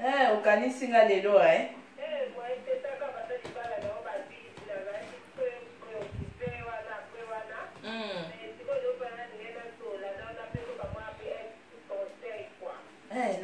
Eh, okanisi nga lelo eh?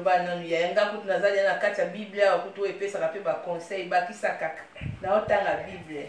loba nanu yaya nga kutu nazali na kati ya bible awa kutu oyo epesaka mpe baconseil bakisa kaka naotanga bible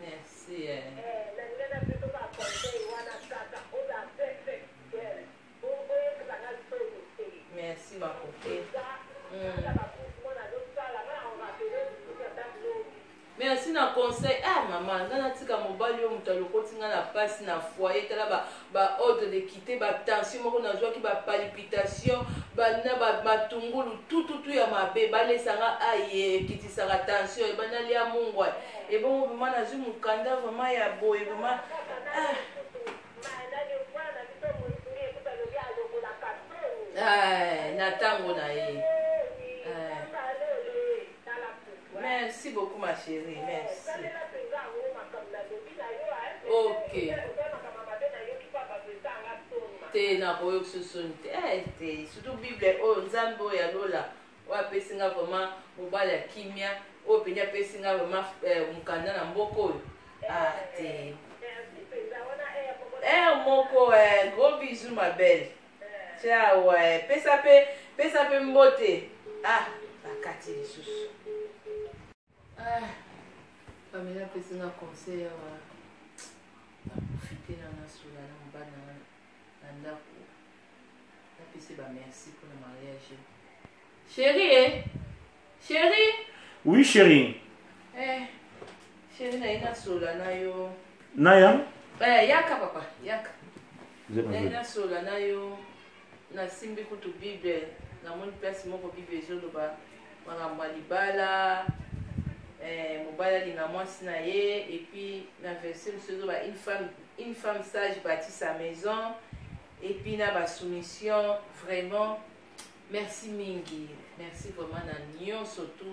Merci. Eh. Merci ma copine. Mm. merci na conseil ah mama nga natika mobali yo moto alokoti nga na mpasi na foye tala ba ordre de quitter ba tension moko nazwaki ba palpitation bana ba matungulu tututu ya mabe balesanga aye ekitisaka tension ebanda lia mungwa ebongo vraimen nazwi mokanda vraimen ya boye vraimen ah. ah, na ntango na ye Merci beaucoup ma chérie, merci. Ok. te nakoyokisa soni te eh, te surtout bible oyo oh, nzambe oyo ya lola oyo apesi nga vraiment mobali ya kimia oyo oh, mpenza apesi nga vraiment eh, mokanda na mboka oyo ah, te r eh, moko gros bisou ma belle Ciao, eh. pesa pe pesa pe mbote. Ah, bakati lisusu. Ah. Pamela pesa na conseil awa. Na profiter na na sola na mbana na ndako. Na pesa ba merci pour le mariage. Chérie, eh? Chérie. Oui, chérie. Eh, chérie, na ina sola na yo. Naya? Eh, yaka papa, yaka. Na ina sola na yo. Na simbi kutu Bible. Na moni place moko Bible ezoloba makambo ya libala. Eh, mobali alinga mwasi na ye et puis na verset mosusu ezoloba une femme une femme sage bâtit sa maison et puis na basoumission vraiment merci mingi merci vraiment na nyonso tu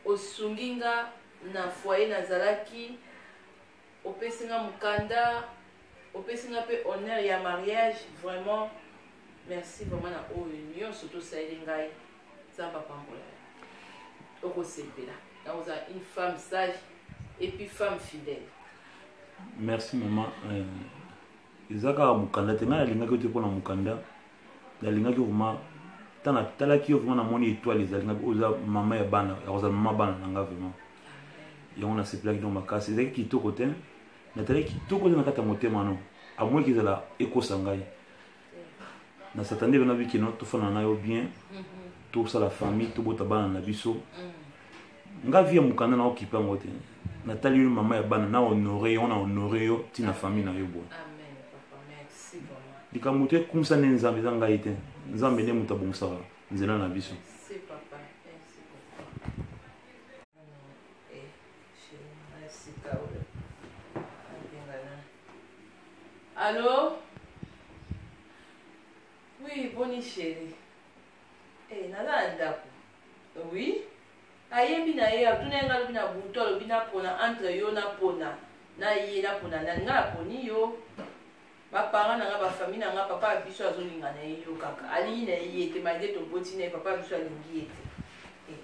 osungi nga na foyer nazalaki opesi nga mokanda opesi nga mpe honneur ya mariage vraiment merci vraiment na oyo nyonso tosaleli ngai nzambe apambola okosepela nakozala une femme sage et puis femme fidèle merci maman euh, eza kaka mokanda te ngai nalingaki yo te mpo na mokanda nalingaki vraimen ntan natalaki yo vraimen namoni étoile ezalingaki oza mama ya bana yakozala mama bana na ngai vraimen yango nasepelaki no makasi ezalaki kitoko te natalaki kitoko te na kati ya motema no amweki ezala ekosa ngai na satan nde bena bikino tofana na yo bien tosala famille tobota bana na biso mm. nga vie ya mokanda na okipe yango te natali yo mama ya bana na honore yo na honore yo ntina famille na yo boye likambo to ekumisa nde nzambe eza ngai te nzambe nde moto abongisaka nzela na biso Allô Oui, bonne chérie. Eh, hey, nana ndaku. Oui. Ayebi na ye atuna ye nga lobi na butu alobi na pona entre yo na pona na ye na pona nani nga na poni yo. Ba parents na nga ba famille na nga papa biso azolinga na ye yo kaka. Alingi na ye te malgré to boti na ye papa biso alingi ye te. Eh,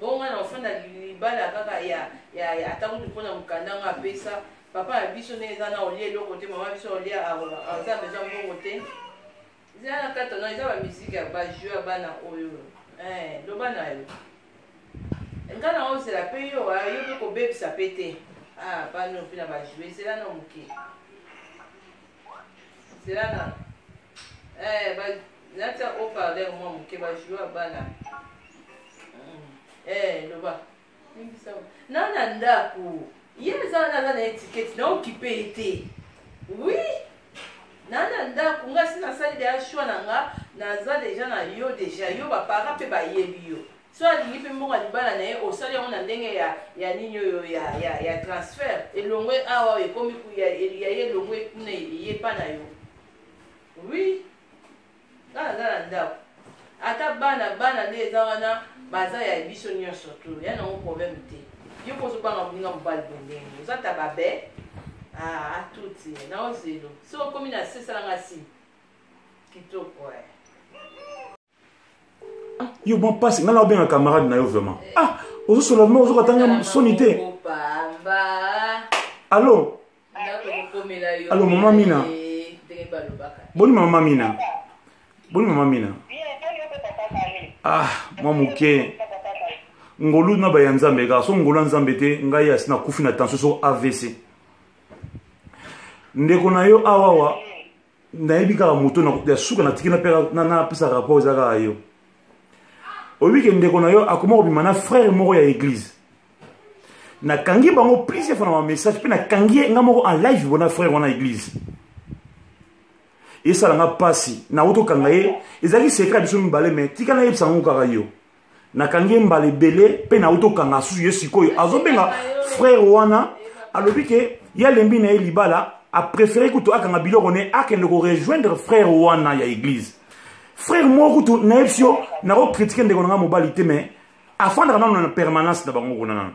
bonga na ofanda libala kaka ya ya ata kutu pona mukanda nga apesa papa na biso ne eza na olie eloko te mama biso olie aza besoin mbongo te Eza na kato na eza ba musique ya ba jeu ya bana oyo. Eh, loba na yo. Nga na ozela pe yo, ah, yo pe kobebisa pe te. Ah, pa no pe na ba jeu, zela na moke. Zela na. Eh, ba natia haut-parleur mwa moke ba jeu ya bana. Mm. Eh, loba. na na ndako ye eza wana aza na etikete na okipe ye te wi na na ndako nga si nasali deja shwa na nga naza deja na yo deja yo bapara mpe bayebi yo so alingi mpe mbongo ya libala na ye osali yango na ndenge ya ya nini oyo ya ya ya transfert elongwe awa ekomi ya ye elongwe kuna eyepa na yo wi nga naza na ndako ata bana bana nde eza wana baza ya biso nyonso tu ya nango problème te yo mpo ozobanga bolinga mobali bondenge oza ta babe atuti ah, na ozelo so okomi na se esalanga si kitoko eh. ah, yo bon mpasi ngai na obenga camarade na yo vraiment eh. ah ozosola vraimen ozoka tanga soni te allo alo mama mina boni mama mina boni mama mina ah mwa moke ngolu na baya nzambe kaka so ngolu ya nzambe te ngai asi nakufi na tension so avc ndeko na yo awawa nayebi kaka moto ya suka natiki napesa rapport eza kaka yo oyebi ke ndeko na yo akoma kobima na frère moko ya église nakangi bango plusieurs fois na bamessage mpe nakangi ye nga moko en live bona frère wana église esala nga mpasi nauti okanga ye ezalaki sekre ya biso mibale mai tika nayebisa yango kaka yo nakangi ye mbala ebele mpe nauti okanga susu ye sikoyo azobenga frere wana alobi ke ye alembi na ye libala apréféré kutu akanga biloko ne akende korejoindre frere wana ya église frere moko kutu nayebisi yo nakokritike ndeko na ngai mobali te mais afandaka nano na permanence na bango kuna nano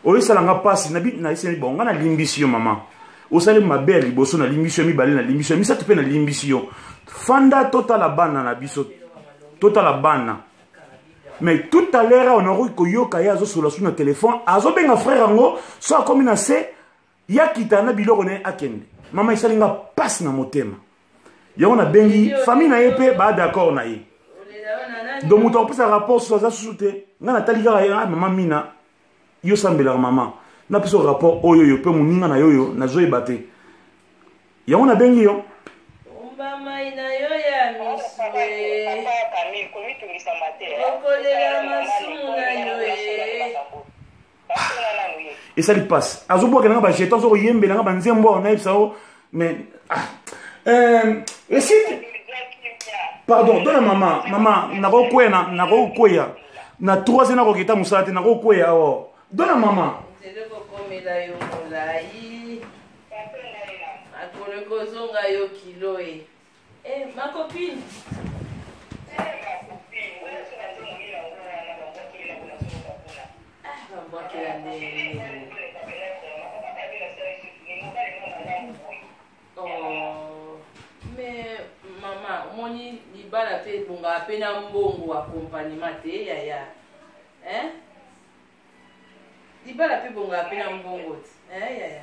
oyesala nga mpasi nayeseli bongo nga nalimbisi yo mama osali mabe ya liboso nalimbisi yo mibale nalimbisi yo misato mpe nalimbisi yo fanda totala bana na biso totala bana mais tout à l'heure on akoki koyoka ye azosolola su na telefone azobenga frère yango so akomi na se ya kita na biloko na ye akende mama esali nga mpasi na motema yango nabengi famille na ye mpe baa d'accord na ye donc moto akopesa rapport susu aza susu te ngai natali kaka ye ah, mama mina yo sambelaka mama napesa rapport oyo oyo mpe moninga na yo oyo nazoyeba te yango nabengi yo mai na yo ya misue okolela masumu na yo e esali mpasi azobwaka nanga bajeton azo koyembela nanga banzembo awa nayebisa yo mais ah, euh, esi pardon dona mama mama nakokweya nakokweya na trois ans nakokita mosala te nakokweya awa dona mama akoloki ozonga yo kilo e Eh, ma copine. omoni libala mpe ebongaka mpe na mbongo akompanima te yaya libala mpe ebongaka mpe na mbongo te yaya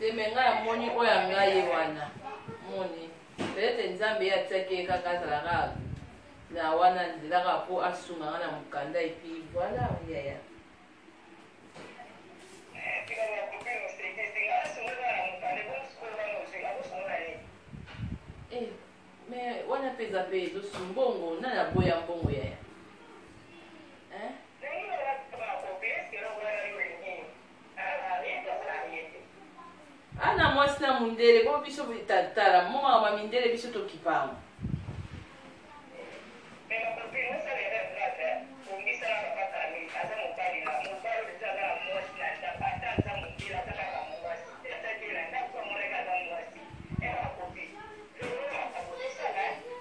temenga ya moni oyo anga ye wana moni peut-être nzambe ye atiaki ye kaka azalaka na wana nzelaka mpo asungaka na mokanda epi voilà yaya eh, mais wana mpe eza mpe ezosu mbongo nani aboya mbongo yaya ana mwasi na mundele bo biso tala moma ma mindele biso tokipama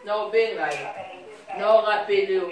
na obenga ye na orapele yo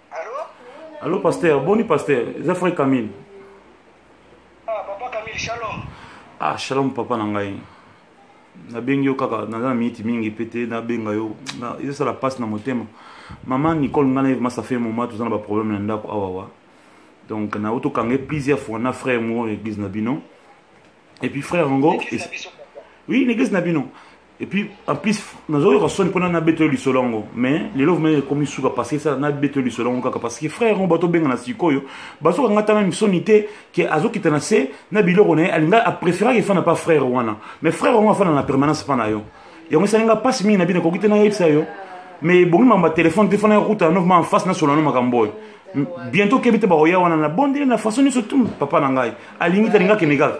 Allô, pasteur. Boni, pasteur. Eza frère Camille. Ah, papa Camille, shalom. Ah, shalom, papa na ngai. nabengi yo kaka naza na miniti mingi mpe te nabenga yo ezosala mpasi na motema mama nicole ngai naye vraimen ça fait moment toza na baproblème na ndako awawa donc na otokange plusieurs fois na frère moko na église na bino et puis frère yango oui na église na bino et puis en plus nazoyoka soni mpona nabeta yo lisolo yango mais lelo vraimen ekomi suka parce que esala nabeta yo lisolo yango kaka parce que frère yango bato obengana sikoyo bazokanga ta meme soni te ke azokita na se na biloko na ye alinga apréféraka efana pa frère wana mais frère yango afana na permanence mpa na yo yango esali nga mpasi mingi na bino ekoki te nayebisa yo mais ebongi mamba telefone te fana yakuta no vraimen en face nasola no makambo oyo bientôt okebi te bakoya wana na bondeli na façon nyonso tu papa na ngai alingi te alinga kende kaka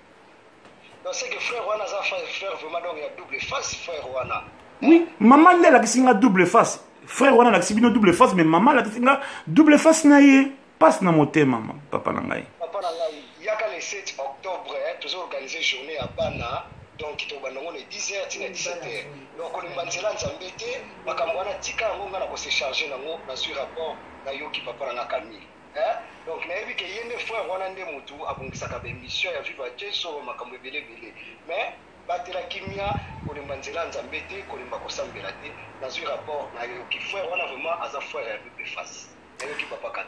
Donc c'est que frère wana aza frère frère vraiment donc ya double face frère wana. Oui, maman nde alakisi nga double face. Frère wana alakisi bino double face mais maman alakisi nga double face na ye. Passe na motema maman papa na ngai. Papa na ngai yaka le 7 octobre hein, tozo organiser journée ya bana donc tokobanda yango na 10 heures tina 17 heures donc kolemba nzela nzambe te makambo wana tika yango ngai na kose charge nango nazwi rapport nayoki papa na nga camille Eh? donc nayebi ke ye nde frère wana nde motu abongisaka baémission ya viva jesu makambo ebele ebele mais batela kimia kolemba nzela ya nzambe te kolemba kosambela te nazwi rapport nayoki frère wana vraiment aza frère ya pepe face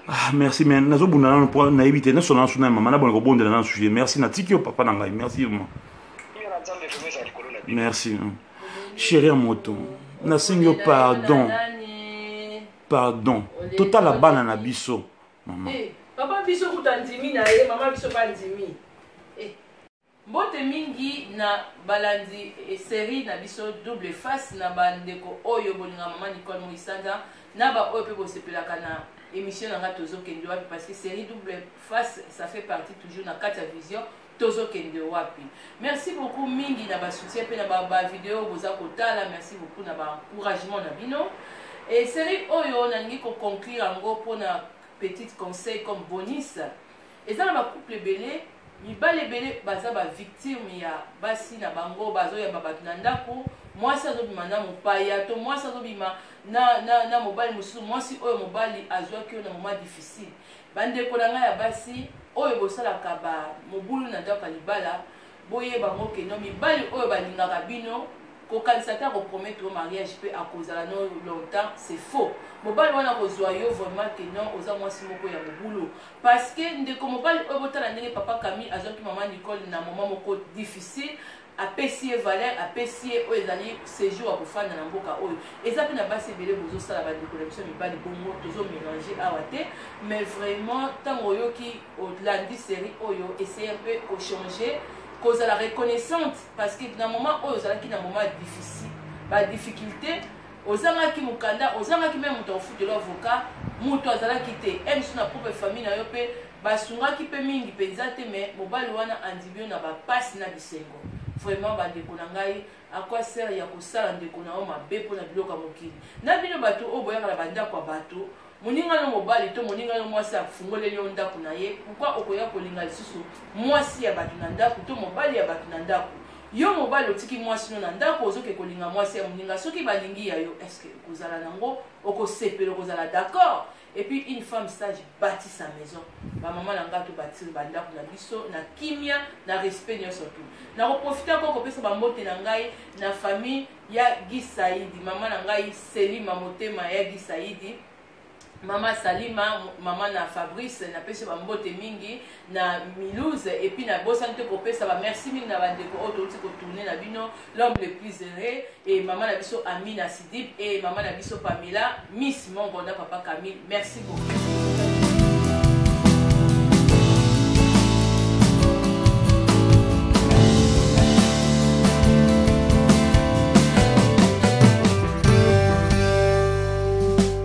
Ah, merci mais nazobunda nano mpo nayebi te nasona nasu na mama nabona kobondela nano sujet merci natiki yo papa na ngai merci ma merci chéri ya moto nasengi yo pardon pardon totala bana na biso mama hey, eh, papa biso kuta ndimi na ye mama biso ba ndimi hey. Eh. mbote mingi na balandi eh, serie na biso double face na bandeko oyo bolinga mama nicole moisanda na baoyo mpe bosepelaka na émission na ngai tozokende wapi parce que serie double face ça fait partie toujours na kati ya vision tozokende wapi merci beaucoup mingi na basoutien mpe na bavideo boza kotala merci beaucoup na baencouragement na bino e série oyo nalingi koconclure yango mpona petite conseil comme bonis eza na bacouple ebele mibali ebele baza bavictime ya basi na bango bazoyamba bato na ndako mwasi azobima na mopaya to mwasi azobima na, na, na mobali mosusu mwasi oyo mobali azwaki yo na moma difficile Bandeko na ngai ya basi oyo bosalaka ba mobulu na ndako ya libala, boyeba ngo ke no mibali oyo balingaka bino kokanisa ata kopromettre yo mariage mpe akozala no longtemps c'est faux mobali wana kozwa yo vraiment ke non oza mwasi moko ya mobulu parce que ndeko mobali oyo botala ndenge papa camille azwaki mama nicole na moment moko difficile apesi ye valeur apesi ye oyo ezali séjour ya kofanda na mboka oyo eza mpe na basi ebele bozosala bandeko na biso ya mibali bongo tozomélange awa te mais vraiment ntango oyoki olandi série oyo essaye mpe kochange kozala reconnaissante parce que na moment oyo ozalaki na moment difficile badifficulté ozangaki mokanda ozangaki meme moto akofutela avocat moto azalaki te emso na propre famille na yo mpe basungaki mpe mingi mpenza te me mobali wana andimi yo na bapasi na bisengo vraiment bandeko na ngai akwa sere ya kosala ndeko na yo mabe mpo na biloko ya mokili na bino bato oyo boyaka na bandako ya bato moninga no mobali to moninga no mwasi afungoleli yo ndako na ye pourkui okoya kolinga lisusu mwasi ya bato na ndako to mobali ya bato na ndako yo mobali otiki mwasi no na ndako ozoke kolinga mwasi ya moninga soki balingi ya yo estce okozala nango okosepela okozala d'accord et puis une femme sage bâtit sa maison bamama na ngai tobâtir bandako na biso na kimia na respect nyonso tu nakoprofite yango kopesa bambote na ngai na famille ya gisaidi mama na ngai selima motema ya gisaidi mama salima mama na fabrice napesi bambote mingi na Milouse et puis na bosani te kopesa ba merci mingi na bandeko oyo touti kotourne na bino l'homme le plus heureux et mama na biso Amina Sidip et mama na biso Pamela Miss Mongo na papa Camille merci beaucoup